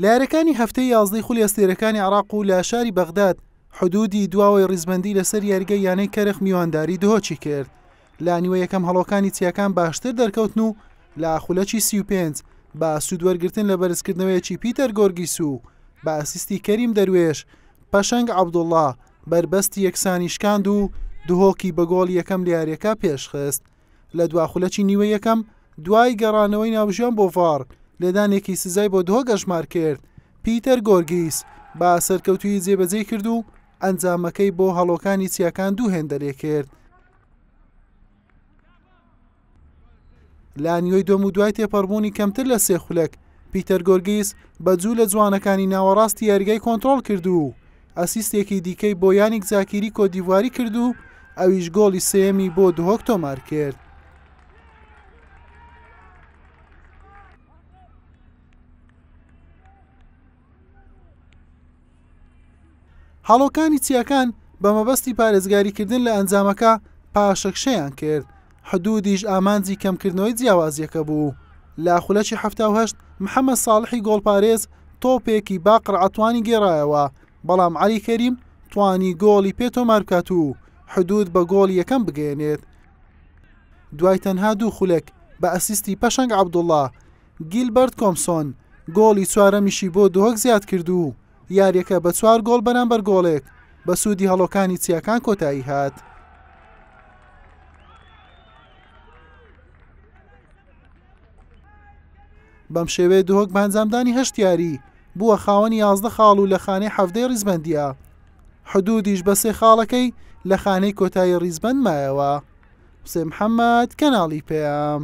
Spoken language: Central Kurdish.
لە یاریەکانی هەفتەی یازدەی خولی ئەستێرەکانی عراق و لە شاری بەغداد حدودی دواوەی ڕیزبندی لەسەر یاریگە یانەی کەرخ میوانداری دهۆچی کرد لا نیوە یەکەم هەڵۆکانی چیاکان باشتر دەرکەوتن و لە خولەکی سی و پێنج با سوودوەرگتن لە بەرزکردنەوەیەکی پیتەر گۆرگیس و بە ئەسیستی کەریم دەروێش پەشەنگ عبدوڵڵا بەربەستی یەکسانیشکاند و دهۆکی بە گۆڵ یەکەم لە یاریەکە پێشخست لە دوا خولەکی نیوە یەکەم دوای گەڕانەوەی ناوژیان بۆ ڤاڕ لێدانێکی سزای بۆ دهۆک ئەژمار کرد پیتەر گۆرگیس با سەرکەوتوی جێبەجێ کرد و ئەنجامەکەی بۆ هەڵۆکانی چیاکان دوو هێندە لێ کرد لا نیوەی دۆم و دوای تێپەڕبوونی کەمتر لە سێ خولەک پیتەر گۆرگیس بە جوو لە جوانەکانی ناوەڕاستی یاریگای کۆنتترۆل کرد و ئەسیستێکی دیکەی بۆ یانیک زاکیری کۆتدیڤواری کرد و ئەویش گۆڵی سێیەمی بۆ دهۆک تۆمار کرد. هەڵۆکانی چیاکان بە مەبەستی پارێزگاریکردن لە ئەنجامەکە پاشەکشەیان کرد حدوودیش ئامانجی کەمکردنەوەی جیاوازییەکە بوو. لە خولەکی حەفتا و هەشت محەمەد ساڵحی گۆڵپارێز تۆپێکی با قرعەتوانی گێڕایەوە، بەڵام عەلی کەریم توانی گۆڵی پێ تۆمار بکات و حدوود بە گۆڵی یەکەم بگەیەنێت. دوای تەنها دوو خولەک بە ئەسیستی پەشەنگ عەبدوڵڵا، گیلبەرت کۆمسۆن گۆڵی چوارەمیشی بۆ دهۆک زیادکرد و یاریەکە بە چوار گۆڵ بەرامبەر گۆڵێک بە سوودی هەڵۆکانی چیاکان کۆتایی هات. بەم شێوێ دهۆک بانجامدانی هەشت یاری بووە خاوەنی یازدە خاڵ و لە خانەی حەفتەی ڕیزبندیە حدودیش بە سێ خاڵەکەی لە خانەی کۆتایی ڕیزبند مایەوە حسێ محەممەد کەناڵی پێام.